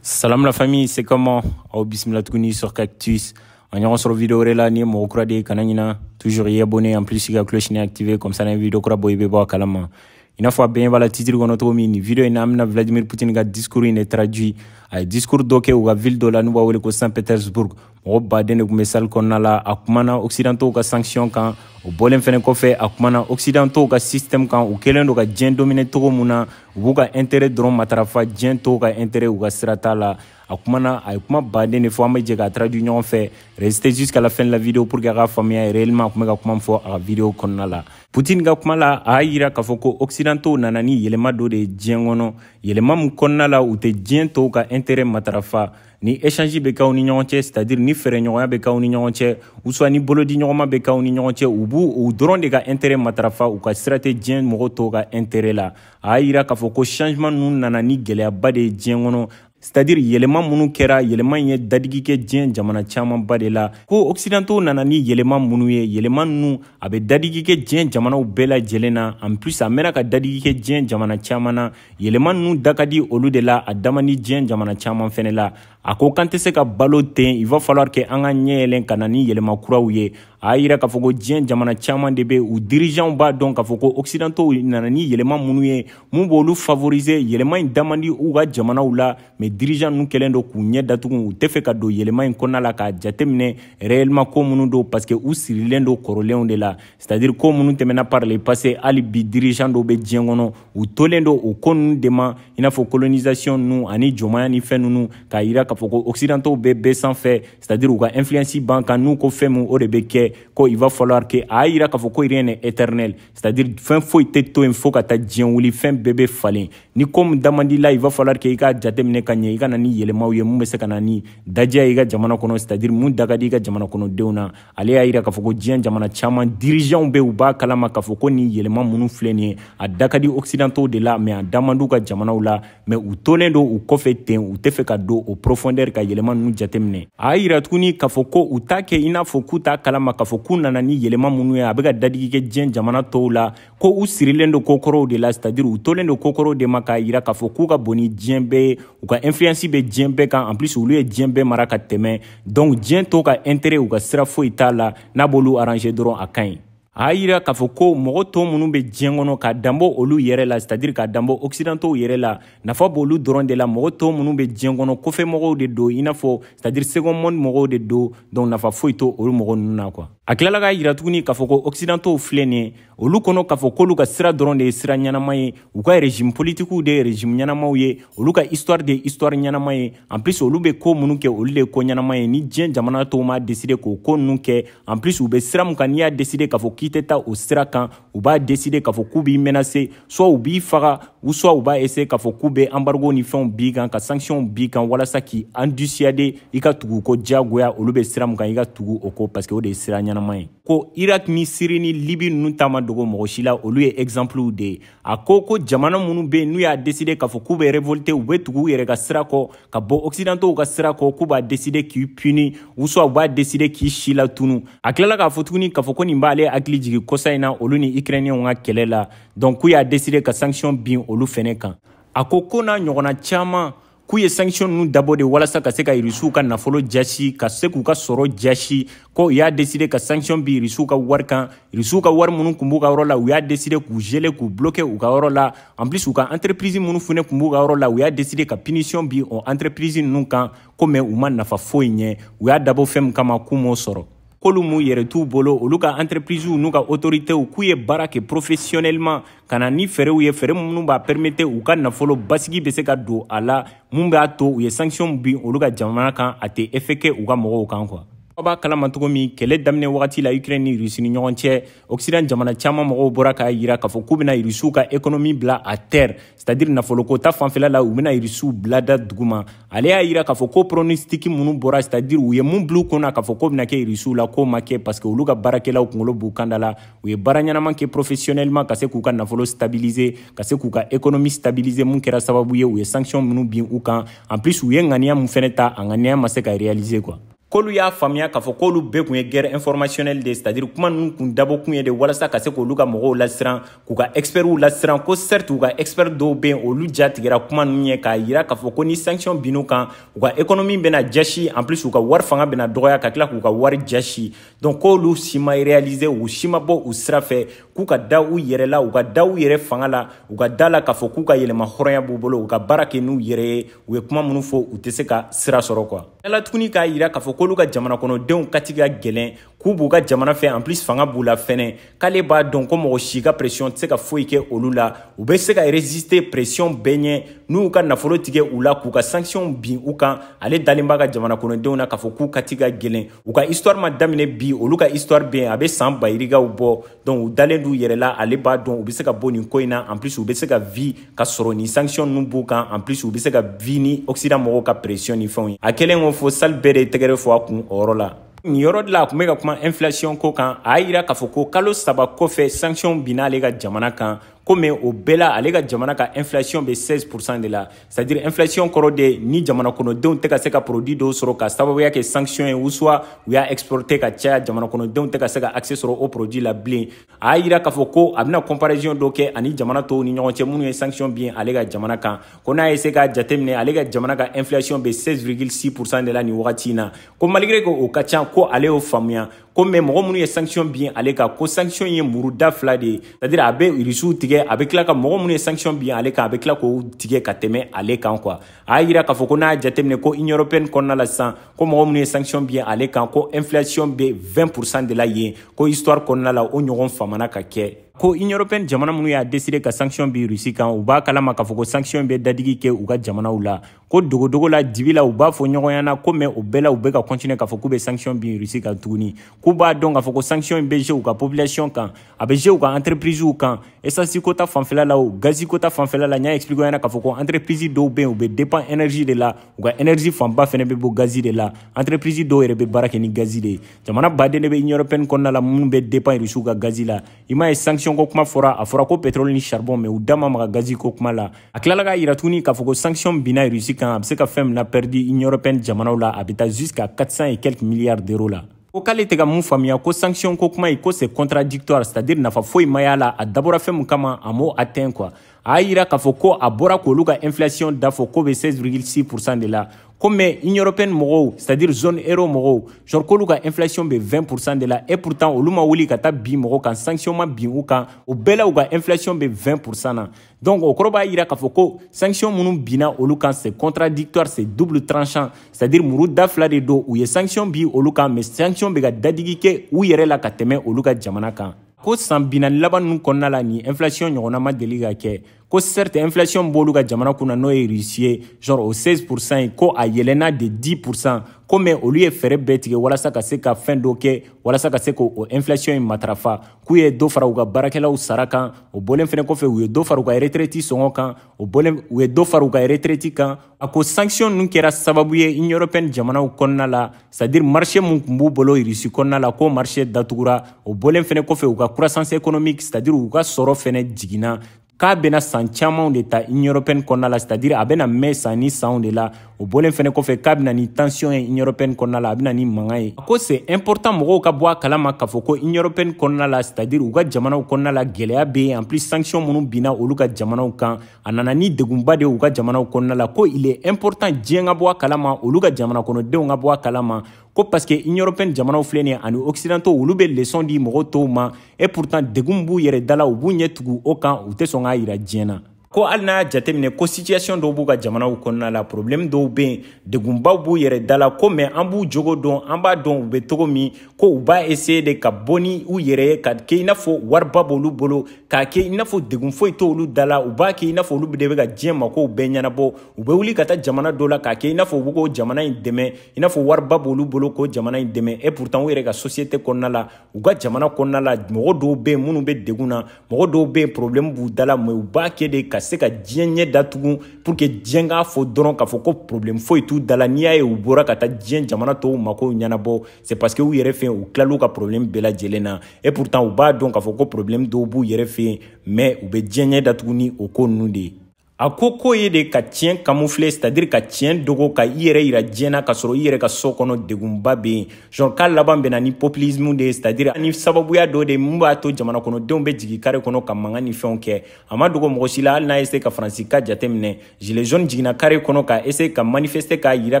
Salam la famille, c'est comment Aw bismillah tuguni sur Cactus. An ɲɔgɔn sɔrɔ vidéo wɛrɛ la ni mɔgɔ kura de kana ɲina toujours i abonner en plus i ka cloche nin activer comme ça ni vidéo kura bɔ i bɛ bɔ a kalama i n'a fɔ a bɛ voilà titre kɔnɔ cogo min nin vidéo in na an bɛna vladimir poutine ka discours in de traduit a ye discours dɔ kɛ u ka ville dɔ la n'u b'a wele ko saint petersbourg mɔgɔ baden de tun bɛ salle kɔnɔna la a kumana occidentaux ka sanction kan o bɔlen fɛnɛ kɔfɛ a kumana occidentaux ka système kan u kɛlen don ka diɲɛ dominer cogo min na u b'u ka intérêt dɔrɔn matarafa diɲɛ tɔw ka intérêt u ka sira t'a la a kumana a ye kuma baden de fɔ an bɛ jɛ k'a traduit ɲɔgɔn fɛ restez jusqu'à la fin de la vidéo pour que a k'a faamuya réellement a tun bɛ ka kuma min fɔ a ka vidéo kɔnɔna la poutine ka kuma la a y'a yira k'a fɔ ko occidentaux nana ni yɛlɛma dɔ de ye diɲɛ kɔnɔ yɛlɛma min kɔnɔna la u tɛ diɲɛ tɔw ka intérêt matarafa ni échange bɛ k'aw ni ɲɔgɔn cɛ c'est à dire ni feereɲɔgɔnya bɛ k'aw ni ɲɔgɔn cɛ ou soit ni bolodiɲɔgɔnma bɛ k'aw ni ɲɔgɔn cɛ u b'u u dɔrɔn de ka intérêt matarafa u ka sira tɛ diɲɛ mɔgɔ tɔw ka intérêt la a y'a yira k'a fɔ ko changement ninnu nana ni gɛlɛyaba de ye diɲɛ kɔnɔ c'est à dire yɛlɛma minnu kɛra yɛlɛma in ye dadigi kɛ diɲɛ jamana camanba de la ko occidentaux nana ni yɛlɛma minnu ye yɛlɛma ninnu a bɛ dadigi kɛ diɲɛ jamanaw bɛɛ lajɛlen na en plus a mɛnna ka dadigi kɛ diɲɛ jamana caman na Yɛlɛma ninnu da ka di olu de la a da man di diɲɛ jamana caman fana la a ko k'an tɛ se ka balo ten il va falloir que an ka ɲɛ yɛlɛn ka na ni yɛlɛma kuraw ye a y'a yira k'a fɔ ko diɲɛ jamana caman de bɛ u dirigeants b'a dɔn k'a fɔ ko occidentaux nana ni yɛlɛma minnu ye mun b'olu favoriser yɛlɛma in da man di u ka jamanaw la mais dirigeants ninnu kɛlen don k'u ɲɛ datugu u tɛ fɛ ka don yɛlɛma in kɔnɔna la k'a jateminɛ réellement ko minnu don parce que u sirilen don kɔrɔlenw de la c'est à dire ko minnu tɛmɛna par le passé hali bi dirigeants dɔw bɛ diɲɛ kɔnɔ u tolen don o ko ninnu de ma i n'a fɔ colonisation ninnu ani jɔnmaya ni fɛn ninnu k'a yira k'a fɔ ko occidentaux bɛ bɛɛ sanfɛ c'est à dire u ka influence b'an kan n'u ko fɛn min o de bɛ kɛ ko il va falloir que a y'a yira k'a fɔ ko rien n'est éternel c'est à dire fɛn foyi tɛ to yen fo ka taa diɲɛ wuli fɛn bɛɛ bɛ falen ni ko min da man di i la il va falloir que i k'a jateminɛ ka ɲɛ i ka na ni yɛlɛmaw ye mun bɛ se ka na ni dadiya ye i ka jamana kɔnɔ c'est à dire mun da ka di i ka jamana kɔnɔdenw na ale y'a yira k'a fɔ ko diɲɛ jamana caman dirigeantw bɛ u b'a kalama k'a fɔ ko nin yɛlɛma minnu filɛ nin ye a da ka di occidentaux de la mais a da man di u ka jamanaw la mais u tolen don u kɔfɛ ten u tɛ fɛ ka don o profondeur ka yɛlɛma ninnu jateminɛ a y'a yira tuguni k'a fɔ ko u t'a kɛ i n'a fɔ k'u t'a kalama k'a fɔ k'u nana ni yɛlɛma minnu ye a bɛ ka dadigi kɛ diɲɛ jamana tɔw la ko u sirilen don kokɔrɔw de la c'est-à-dire u tolen don kokɔrɔw de ma k'a yira k'a fɔ k'u ka bon ni diɲɛ bɛɛ ye u ka influence bɛ diɲɛ bɛɛ kan en plus olu ye diɲɛ bɛɛ mara ka tɛmɛ donc diɲɛ tɔw ka intérêt u ka sira foyi t'a la n'a b'olu arranger dɔrɔn a ka ɲi a y'a yira k'a fɔ ko mɔgɔ tɔw minnu bɛ diɲɛ kɔnɔ k'a danbɔ olu yɛrɛ la c'est-à-dire k'a danbɔ occidentaux yɛrɛ la nafa b'olu dɔrɔn de la mɔgɔ tɔw minnu bɛ diɲɛ kɔnɔ kɔfɛ mɔgɔw de don i n'a fɔ c'est à dire second monde mɔgɔw de don donc nafa foyi t'olu mɔgɔ ninnu na quoi a tilala k'a yira tuguni k'a fɔ ko occidentaux filɛ nin ye olu kɔnɔ k'a fɔ k'olu ka sira dɔrɔn de ye sira ɲɛnama ye u ka régime politikiw de ye régime ɲɛnamaw ye olu ka histoire de ye histoire ɲɛnama ye en plus olu bɛ ko minnu kɛ olu de ye ko ɲɛnama ye ni diɲɛ jamana tɔw m'a décider k'o ko ninnu kɛ en plus u bɛ sira min kan n'i y'a décider k'a fɔ k'i tɛ taa o sira kan u b'a deside k'a fɔ k'u b'i menase soit u b'i faga ou soit u b'a eseye k'a fɔ k'u bɛ embargo ni fɛnw b'i kan ka sanctions b'i kan walasa k'i en dissuader i ka tugu u kɔ diyagoya olu bɛ sira min kan i ka tugu o kɔ parce que o de ye sira ɲɛnama ye ko irak ni siri ni libi ninnu ta ma dogo mɔgɔ si la olu ye exemplew de ye a ko ko jamana minnu bɛ yen n'u y'a deside k'a fɔ k'u bɛ revolte u bɛ tugu u yɛrɛ ka sira kɔ ka bɔ occidentaux ka sira kɔ k'u b'a deside k'i puni ou soit u b'a deside k'i silatunu a tilala k'a fɔ tuguni k'a fɔ ko nin b'ale hakili jigi kɔsa in na olu ni ukrainiyɛnw ka kɛlɛ la donc k'u y'a deside ka sanction bin olu fɛnɛ kan a ko ko n'a ɲɔgɔnna caman k'u ye sanction ninnu dabɔ de walasa ka se ka irisiw ka nafolo jasi ka se k'u ka sɔrɔ jasi ko u y'a deside ka sanction bin irisiw ka wari kan irisiw ka wari minnu kun b'u ka yɔrɔ la u y'a deside k'u geler k'u bloke u ka yɔrɔ la en plus u ka entreprise minnu fɛnɛ kun b'u ka yɔrɔ la u y'a deside ka punition bi o entreprise ninnu kan ko mais u ma nafa foyi ɲɛ u y'a dabɔ fɛn min kama k'u m'o sɔrɔ k'olu m'u yɛrɛ t'u bolo olu ka entreprisew n'u ka autoritew k'u ye baara kɛ professionnellement ka na ni fɛɛrɛw ye fɛɛrɛ minnu b'a permete u ka nafolo basigi bɛ se ka don a la mun b'a to u ye sanction bin olu ka jamana kan a tɛ effet kɛ u ka mɔgɔw kan quoi aw b'a kalama cogo min kɛlɛ daminɛ wagati la ukraine ni rusi ni ɲɔgɔn cɛ occident jamana caman mɔgɔw bɔra k'a yira k'a fɔ k'u bɛna rusiw ka ekonomi bila à terre c'est à dire nafoloko ta fanfɛla la u bɛna rusiw bila da duguma ale y'a yira k'a fɔ ko pronostiki minnu bɔra c'est à dire u ye mun bil'u kun na k'a fɔ k'o bɛna kɛ rusiw la k'o ma kɛ parce que olu ka baarakɛlaw kungolo b'u kanda la u ye baara ɲɛnaman kɛ professionnellement ka se k'u ka nafolo stabiliser ka se k'u ka ekonomi stabiliser mun kɛra sababu ye u ye sanction minnu bin u kan en plus u ye ŋaniya mun fɛnɛ ta a ŋaniya ma se ka réaliser quoi k'olu y'a faamuya k'a fɔ k'olu bɛɛ kun ye guerre informationnelle de ye c'est à dire kuma ninnu kun dabɔ kun ye de walasa ka se k'olu ka mɔgɔw lasiran k'u ka expertw lasiran ko certes u ka expert dɔw bɛ yen olu ja tigɛra kuma ninnu ye k'a yira k'a fɔ ko ni sanction binn'u kan u ka économie bɛna jasi en plus u ka wari fanga bɛna dɔgɔya ka tila k'u ka wari jasi donc k'olu si ma réaliser u si ma bɔ u sira fɛ k'u ka da u yɛrɛ la u ka da u yɛrɛ fanga la u ka da a la k'a fɔ k'u ka yɛrɛmahɔrɔnya b'u bolo u ka baara kɛ n'u yɛrɛ ye u ye kuma minnu fɔ u tɛ se ka sira sɔrɔ quoi a tilala tuguni k'a yira k'a fɔ k'olu ka jamana kɔnɔdenw kati ka gɛlɛn k'u b'u ka jamana fɛ en plus fanga b'u la fɛnɛ k'ale b'a dɔn ko mɔgɔ si ka pression tɛ se ka foyi kɛ olu la u bɛ se ka résister pression bɛɛ ɲɛ n'u ka nafolo tigɛ u la k'u ka sanction bin u kan ale dalen b'a ka jamana kɔnɔdenw na k'a fɔ k'u kati ka gɛlɛn u ka histoire ma daminɛ bi olu ka histoire bɛ yen a bɛ san bayirigaw bɔ donc u dalen d'u yɛrɛ la ale b'a dɔn u bɛ se ka bɔ nin ko in na en plus u bɛ se ka vie ka sɔrɔ nin sanction ninnu b'u kan en plus u bɛ se ka vie ni occident mɔgɔw ka pression ni fɛnw ye a kɛlen ko fo salle bɛɛ de ye tɛgɛrɛ fɔ a kun o yɔrɔ la nin yɔrɔ de la a tun bɛ ka kuma inflation ko kan a y'a yira k'a fɔ ko kalo saba kɔfɛ sanction binna ale ka jamana kan ko mais o bɛɛ la ale ka jamana ka inflation bɛ 16 pourcent de la c'est à dire inflation kɔrɔ de ni jamana kɔnɔdenw tɛ ka se ka produit dɔw sɔrɔ ka sababuya kɛ sanction ye ou soit u y'a exporter ka caya jamana kɔnɔdenw tɛ ka se ka accès sɔrɔ o produit la bilen a y'a yira k'a fɔ ko a bɛna comparaison dɔ kɛ ani jamana tɔw ni ɲɔgɔn cɛ minnu ye sanction bin ale ka jamana kan ko n'a ye se k'a jateminɛ ale ka jamana ka inflation bɛ 16,6 pourcent de la nin wagati in na ko malgré que o ka ca ko ale y'o faamuya ko mais mɔgɔ minnu ye sanction bin ale kan ko sanction ye muru da fila de ye c'est à dire a bɛ irisiw tigɛ a bɛ tila ka mɔgɔ minnu ye sanction bin ale kan a bɛ tila k'o tigɛ ka tɛmɛ ale kan quoi a y'a yira k'a fɔ ko n'a y'a jateminɛ ko union européenne kɔnɔna la sisan ko mɔgɔ minnu ye sanction bin ale kan ko inflation bɛ 20 pourcent de la yen ko histoire kɔnɔna la o ɲɔgɔn famana ka kɛ ko union européenne jamana minnu y'a décidé ka sanction bin Russie kan u b'a kalama k'a fɔ ko sanction bɛ dadigi kɛ u ka jamanaw la ko dogodogo la dibi la u b'a fɔ ɲɔgɔn ɲɛna ko mais o bɛɛ la u bɛ ka continuer k'a fɔ k'u bɛ sanction bin Russie kan tuguni k'u b'a dɔn k'a fɔ ko sanction in bɛ jouer u ka population kan a bɛ jouer u ka entreprisew kan essence ko ta fanfɛla la o gazi ko ta fanfɛla la n y'a expliqué ɲɛna k'a fɔ ko entreprise dɔw bɛ yen u bɛ dépend énergie de la u ka énergie fanba fɛnɛ bɛ bɔ gazi de la entreprise dɔw yɛrɛ bɛ baara kɛ ni gazi de ye jamana baden de bɛ union européenne kɔnɔna la minnu bɛ dépend Russie ka gazi la i m'a ye sanction ko kuma fɔra a fɔra ko pétrole ni charbon mais u da ma maga gazi ko kuma la a tilala k'a yira tuguni k'a fɔ ko sanction binna Russie kan a bɛ se ka fɛn min pɛrdi union européenne jamanaw la a bɛ taa jusqu'à 400 et quelques milliards d'euros la ko k'ale tɛ ka mun faamuya ko sanction ko kuma ye ko c'est contradictoire c'est à dire nafa foyi ma y'a la a dabɔra fɛn min kama a m'o atteint quoi a y'a yira k'a fɔ ko a bɔra k'olu ka inflation da fɔ k'o bɛ 16,6 pourcent de la ko mais union européenne mɔgɔw c'est à dire zone euro mɔgɔw genre k'olu ka inflation bɛ 20 pourcent de la et pourtant olu ma wuli ka taa bin mɔgɔw kan sanction ma bin u kan o bɛɛ la u ka inflation bɛ 20 pourcent na donc o kɔrɔ b'a yira k'a fɔ ko sanction minnu binna olu kan c'est contradictoire c'est double tranchant c'est à dire muru da fila de don u ye sanction bin olu kan mais sanction bɛ ka dadigi kɛ u yɛrɛ la ka tɛmɛ olu ka jamana kan ko san binani laban ninnu kɔnɔna la nin inflation ɲɔgɔnna ma deli ka kɛ ko certes inflation b'olu ka jamana kunna n'o ye Russie ye genre o 16 pourcent ye ko a yɛlɛnna de 10 pourcent ko mais olu ye fɛɛrɛ bɛɛ tigɛ walasa ka se ka fɛn dɔ kɛ walasa ka se k'o inflation in matarafa k'u ye dɔ fara u ka baarakɛlaw sara kan o bɔlen fɛnɛ kɔfɛ u ye dɔ fara u ka retraite sɔngɔ kan o bɔlen u ye dɔ fara u ka retraite kan a ko sanction ninnu kɛra sababu ye union européenne jamanaw kɔnɔna la c'est à dire marché mun tun b'u bolo Russie kɔnɔna la k'o marché datugura o bɔlen fɛnɛ kɔfɛ u ka croissance économique c'est à dire u ka sɔrɔ fɛnɛ jiginna k'a bɛna san camanw de ta union européenne kɔnɔna la c'est à dire a bɛna mɛn san ni sanw de la o bɔlen fɛnɛ kɔfɛ k'a bɛ na ni tension ye union européenne kɔnɔna la a bɛ na ni mankan ye a ko c'est important mɔgɔw ka bɔ a kalama k'a fɔ ko union européenne kɔnɔna la c'est à dire u ka jamanaw kɔnɔna la gɛlɛya bɛ yen en plus sanction minnu binna olu ka jamanaw kan a nana ni degunba de ye u ka jamanaw kɔnɔna la ko il est important diɲɛ ka bɔ a kalama olu ka jamana kɔnɔdenw ka bɔ a kalama ko parce que union européenne jamanaw filɛ nin ye ani occidentaux olu bɛ leçon di mɔgɔ tɔw ma et pourtant degun b'u yɛrɛ da la u b'u ɲɛ tugu o kan u tɛ sɔn k'a yira diɲɛ na ko hali n'a y'a jateminɛ ko situation dɔw b'u ka jamanaw kɔnɔna la problème dɔw bɛ yen degunbaw b'u yɛrɛ da la ko mais an b'u jogo dɔn an b'a dɔn u bɛ cogo min ko u b'a essayer de ka bɔ ni u yɛrɛ ye k'a kɛ i n'a fɔ wariba b'olu bolo k'a kɛ i n'a fɔ degun foyi tɛ olu da la u b'a kɛ i n'a fɔ olu de bɛ ka diɲɛ makow bɛɛ ɲɛnabɔ u bɛ wuli ka taa jamana dɔ la k'a kɛ i n'a fɔ u bɛ k'o jamana in dɛmɛ i n'a fɔ wariba b'olu bolo k'o jamana in dɛmɛ et pourtant u yɛrɛ ka société kɔnɔna la u ka jamana kɔnɔna la mɔgɔ dɔw bɛ yen minnu bɛ degun na mɔgɔ dɔw bɛ yen problème b'u da la mais u b'a kɛ de ka se ka diɲɛ ɲɛ datugu pour que diɲɛ k'a fɔ dɔrɔn k'a fɔ ko problème foyi t'u da la n'i y'a ye u bɔra ka taa diɲɛ jamana tɔw makow ɲɛnabɔ c'est parce que u yɛrɛ fɛ u tilal'u ka problème bɛɛ lajɛlen na et pourtant u b'a dɔn k'a fɔ ko problème dɔw b'u yɛrɛ fɛ yen mais u bɛ diɲɛ ɲɛ datugu ni o ko ninnu de ye a ko k'o ye de ka tiɲɛ camoufler c'est à dire ka tiɲɛ dogo ka i yɛrɛ yira diɲɛ na k'a sɔrɔ i yɛrɛ ka so kɔnɔ degunba bɛ yen genre k'a laban bɛ na ni populisme de ye c'est à dire ni sababuya dɔ de ye mun b'a to jamana kɔnɔdenw bɛ jigin kare kɔnɔ ka mankan ni fɛnw kɛ a ma dogo mɔgɔ si la hali n'a ye essayer ka faransi ka jate minɛ Gilets jaunes jiginna kare kɔnɔ ka essayer ka manifester k'a yira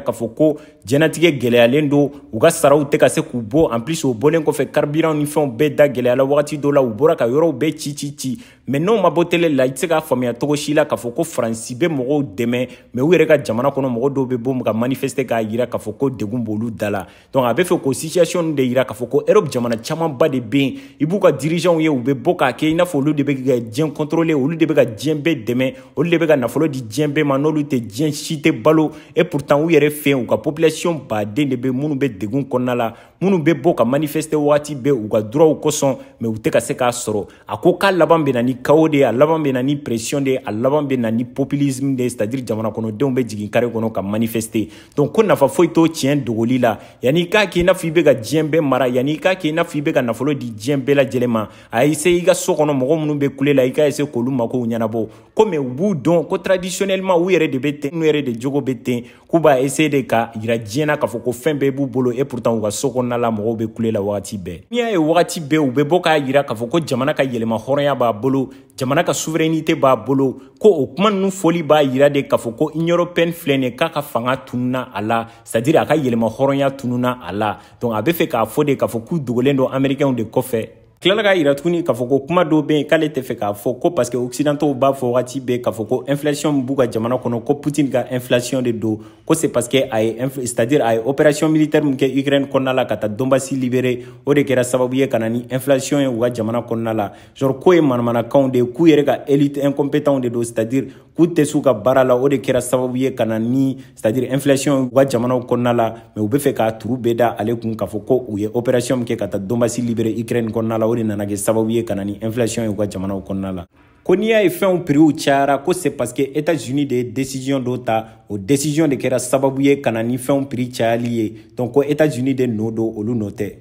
k'a fɔ ko jɛnatigɛ gɛlɛyalen don u ka saraw tɛ ka se k'u bɔ en plus o bɔlen kɔfɛ carburant ni fɛnw bɛɛ da gɛlɛyala wagati dɔ la u bɔra ka yɔrɔw bɛɛ ci ci ci mais n'o ma bɔ télé la i tɛ se k'a faamuya cogo si la k'a fɔ ko faransi bɛ mɔgɔw dɛmɛ mais u yɛrɛ ka jamana kɔnɔ mɔgɔ dɔw bɛ bɔ ka manifester k'a yira k'a fɔ ko degun b'olu da la donc a bɛ fɛ k'o situation de yira k'a fɔ ko europe jamana camanba de bɛ yen i b'u ka dirigeants ye u bɛ bɔ k'a kɛ i n'a fɔ olu de bɛ ka diɲɛ contrôler olu de bɛ ka diɲɛ bɛɛ dɛmɛ olu de bɛ ka nafolo di diɲɛ bɛɛ ma n'olu tɛ diɲɛ si tɛ balo et pourtant u yɛrɛ fɛ yen u ka population baden de bɛ minnu bɛ degun kɔnɔna la minnu bɛ bɔ ka manifester waati bɛɛ u ka droits kosɔn mais u tɛ ka se k'a sɔrɔ a ko k'a laban bɛ na ni chaos de ye a laban bɛ na ni pression de ye a laban bɛ na ni populisme de ye c'est à dire jamana kɔnɔdenw bɛ jigin kare kɔnɔ ka manifester donc ko nafa foyi t'o tiɲɛ dogoli la yanni i k'a kɛ i n'a fɔ i bɛ ka diɲɛ bɛɛ mara yanni i k'a kɛ i n'a fɔ i bɛ ka nafolo di diɲɛ bɛɛ lajɛlen ma a essayer i ka so kɔnɔ mɔgɔ minnu bɛ kule la i k'a essayer k'olu makow ɲɛnabɔ ko mais u b'u dɔn ko traditionnellement u yɛrɛ de bɛ ten u yɛrɛ de jogo bɛ ten k'u b'a essayer de k'a yira diɲɛ na k'a fɔ ko fɛn bɛɛ b'u bolo et pourtant u ka so kɔnɔna la mɔgɔw bɛ kule la wagati bɛɛ n'i y'a ye wagati bɛɛ u bɛ bɔ k'a yira k'a fɔ ko jamana ka yɛlɛma hɔrɔnya b'a bolo jamana ka souveraineté b'a bolo ko o kuma ninnu fɔli b'a yira de k'a fɔ ko union européenne filɛ nin ye k'a ka fanga tununa a la c'est à dire a ka yɛrɛmahɔrɔnya tununa a la donc a bɛ fɛ k'a fɔ de k'a fɔ k'u dogolen don américainw de kɔfɛ tilala k'a yira tuguni k'a fɔ ko kuma dɔw bɛ yen k'ale tɛ fɛ k'a fɔ ko parce que occidentaux b'a fɔ wagati bɛɛ k'a fɔ ko inflation b'u ka jamana kɔnɔ ko putin ka inflation de don ko c'est parce que a ye c'est à dire a ye opération militaire min kɛ ukraine kɔnɔna la ka taa donbasi libérer o de kɛra sababu ye ka na ni inflation ye u ka jamana kɔnɔna la genre k'o ye manamanakanw de ye k'u yɛrɛ ka élite incompétents de don c'est à dire k'u tɛ s'u ka baara la o de kɛra sababu ye ka na ni c'est à dire inflation u ka jamanaw kɔnɔna la mais u bɛ fɛ k'a tort bɛɛ da ale kun k'a fɔ ko u ye opération min kɛ ka taa donbasi libérer ukraine kɔnɔna la o de nana kɛ sababu ye ka na ni inflation ye u ka jamanaw kɔnɔna la ko n'i y'a ye fɛnw prix cayara ko c'est parce que états unis de ye décision dɔ ta o décision de kɛra sababu ye ka na ni fɛnw prix cayali ye donc ko états unis de nɔ don olu nɔ tɛ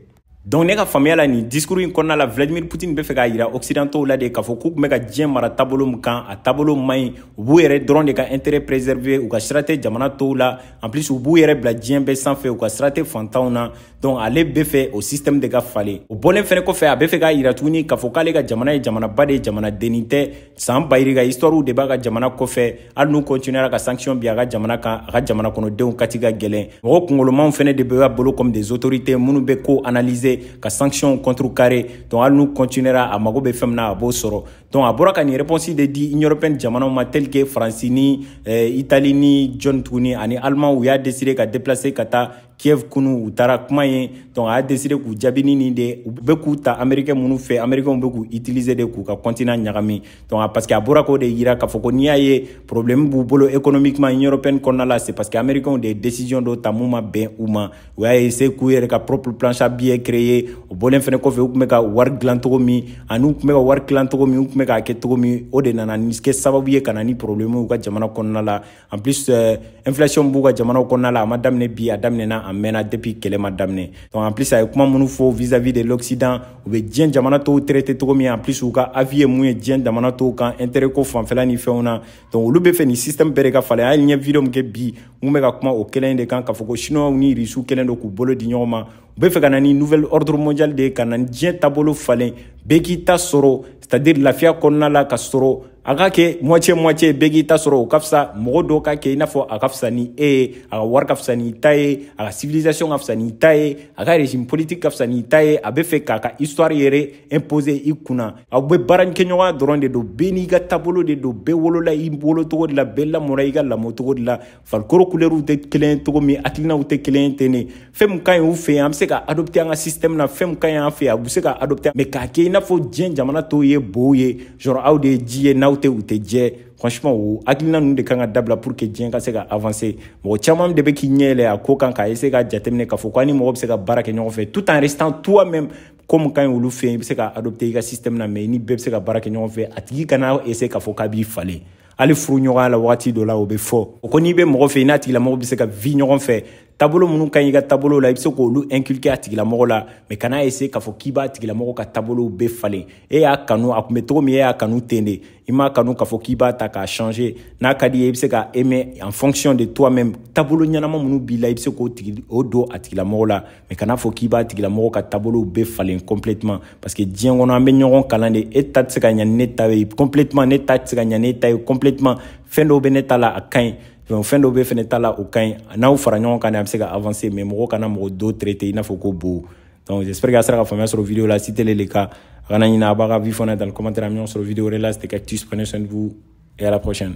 donc ne ka faamuya la nin discours in kɔnɔna la vladimir putin bɛ fɛ k'a yira occidentaux la de k'a fɔ k'u tun bɛ ka diɲɛ mara taabolo min kan a taabolo man ɲi u b'u yɛrɛ dɔrɔn de ka intérêt préserver u ka sira tɛ jamana tɔw la en plus u b'u yɛrɛ bila diɲɛ bɛɛ sanfɛ u ka sira tɛ fantanw na donc ale bɛ fɛ o système de ka falen o bɔlen fɛnɛ kɔfɛ a bɛ fɛ k'a yira tuguni k'a fɔ k'ale ka jamana ye jamanaba de ye jamanadennin tɛ san ba yirika histoire de b'a ka jamana kɔfɛ hali n'u continuera ka sanction bin a ka jamana kan a ka jamana kɔnɔdenw kati ka gɛlɛn mɔgɔ kungolomaw fɛnɛ de b'a bolo comme des autorités minnu bɛ ko analyser ka sanction contrecarrer donc hali n'u continuera a mago bɛ fɛn min na a b'o sɔrɔ donc a bɔra ka nin réponse de di union européenne jamanaw ma tel que faransi ni eh, itali ni jɔni tuguni ani allemand u y'a décider ka déplacer ka taa kiev kunu u taara kuma yen donc a y'a décider k'u jaabi ni nin de u bɛ k'u ta amerikɛn minnu fɛ amerikɛnw bɛ k'u utiliser de k'u ka continent ɲagami donc a parce que a bɔra k'o de yira k'a fɔ ko n'i y'a ye problème b'u bolo économiquement union européenne kɔnɔna la c'est parce que amerikɛnw de ye décision dɔ ta mun ma bɛn u ma u y'a essayer k'u yɛrɛ ka propre planche à billet créer o bɔlen fɛnɛ kɔfɛ u tun bɛ ka wari dilan cogo min ani u tun bɛ ka wari dilan cogo min u tun bɛ k'a kɛ cogo min o de nana ni kɛ sababu ye ka na ni problème u ka jamana kɔnɔna la en plus euh, inflation b'u ka jamanaw kɔnɔna la a ma daminɛ bi a daminɛna a mɛnna depuis kɛlɛ ma daminɛ donc en plus a ye kuma minnu fɔ vis à vis de l'occident u bɛ diɲɛ jamana tɔw traiter cogo min en plus u ka avis ye mun ye diɲɛ jamana tɔw kan intérêt ko fanfɛla ni fɛnw na donc olu bɛ fɛ nin système bɛɛ de ka falen hali n ye video min kɛ bi mun bɛ ka kuma o kelen de kan k'a fɔ ko chinois ni irisiw kɛlen don k'u bolo di ɲɔgɔn ma u bɛ fɛ ka na ni nouvel ordre mondial de ye ka na ni diɲɛ taabolo falen bɛɛ k'i ta sɔrɔ c'est à dire lafiya kɔnɔna la ka sɔrɔ a ka kɛ moitié moitié bɛɛ k'i ta sɔrɔ o ka fisa mɔgɔ dɔw ka kɛ i n'a fɔ a ka fisa ni e ye a ka wari ka fisa n'i ta ye a ka civilisation ka fisa n'i ta ye a ka régime politique ka fisa n'i ta ye a bɛ fɛ k'a ka histoire yɛrɛ imposer i kunna aw bɛ baarakɛɲɔgɔnya dɔrɔn de don bɛɛ n'i ka taabolo de don bɛɛ wolola i wolocogo de la bɛɛ lamɔra i ka lamɔcogo de la farikolo kulɛriw tɛ kelen cogo min hakilinaw tɛ kelen ten de fɛn min ka ɲi u fɛ yen an bɛ se ka adopter an ka système na fɛn min ka ɲi an fɛ yen a bɛ se ka adopter mais k'a kɛ i n'a fɔ diɲɛ jamana tɔw ye bow ye genre aw de ye ji ye n'aw tɛ u tɛ jɛ franchement o hakilina ninnu de kan ka dabila pour que diɲɛ ka se ka avancer mɔgɔ caman de bɛ k'i ɲɛ yɛlɛ a ko kan ka essayer ka jateminɛ k'a fɔ ko an ni mɔgɔ bɛ se ka baara kɛ ɲɔgɔn fɛ tout en restant toi même ko min ka ɲi olu fɛ yen i bɛ se ka adopter i ka système na mais i ni bɛɛ bɛ se ka baara kɛ ɲɔgɔn fɛ a tigi kana essayer k'a fɔ k'a b'i falen hali furu ɲɔgɔnya la wagati dɔ la o bɛ fɔ o ko n'i bɛ mɔgɔ fɛ i n'a tigilamɔgɔ bɛ se ka vi ɲɔgɔn fɛ tabolo minnu ka ɲi i ka tabolo la i bɛ se k'olu inculquer a tigilamɔgɔ la mais kana essayer k'a fɔ k'i b'a tigilamɔgɔ ka tabolow bɛɛ falen e y'a kanu a tun bɛ cogo min e y'a kanu ten de i m'a kanu k'a fɔ k'i b'a ta k'a changer n'a ka d'i ye i bɛ se k'a aimer en fonction de toi même tabolo ɲɛnama minnu b'i la i bɛ se k'o don a tigilamɔgɔ la mais kana fɔ k'i b'a tigilamɔgɔ ka taabolow bɛɛ falen complètement parce que diɲɛ kɔnɔ an bɛ ɲɔgɔn kalan de e ta tɛ se ka ɲa ni ne ta ye complètement ne ta tɛ se ka ɲa n'e ta ye complètement fɛn dɔw bɛ ne ta la a ka ɲi donc fɛn dɔw b'e fɛnɛ ta la o ka ɲi n'aw fara ɲɔgɔn kan de a bɛ se ka avancer mais mɔgɔ kana mɔgɔ dɔ traiter i n'a fɔ ko bo donc j'espère que a sera ka faamuya sɔrɔ video la si tel est le cas a kana ɲinɛ a b'a ka avis fɔ dans le commentaire an bɛ ɲɔgɔn sɔrɔ video wɛrɛ la c'était cactus prenez soin de vous et à la prochaine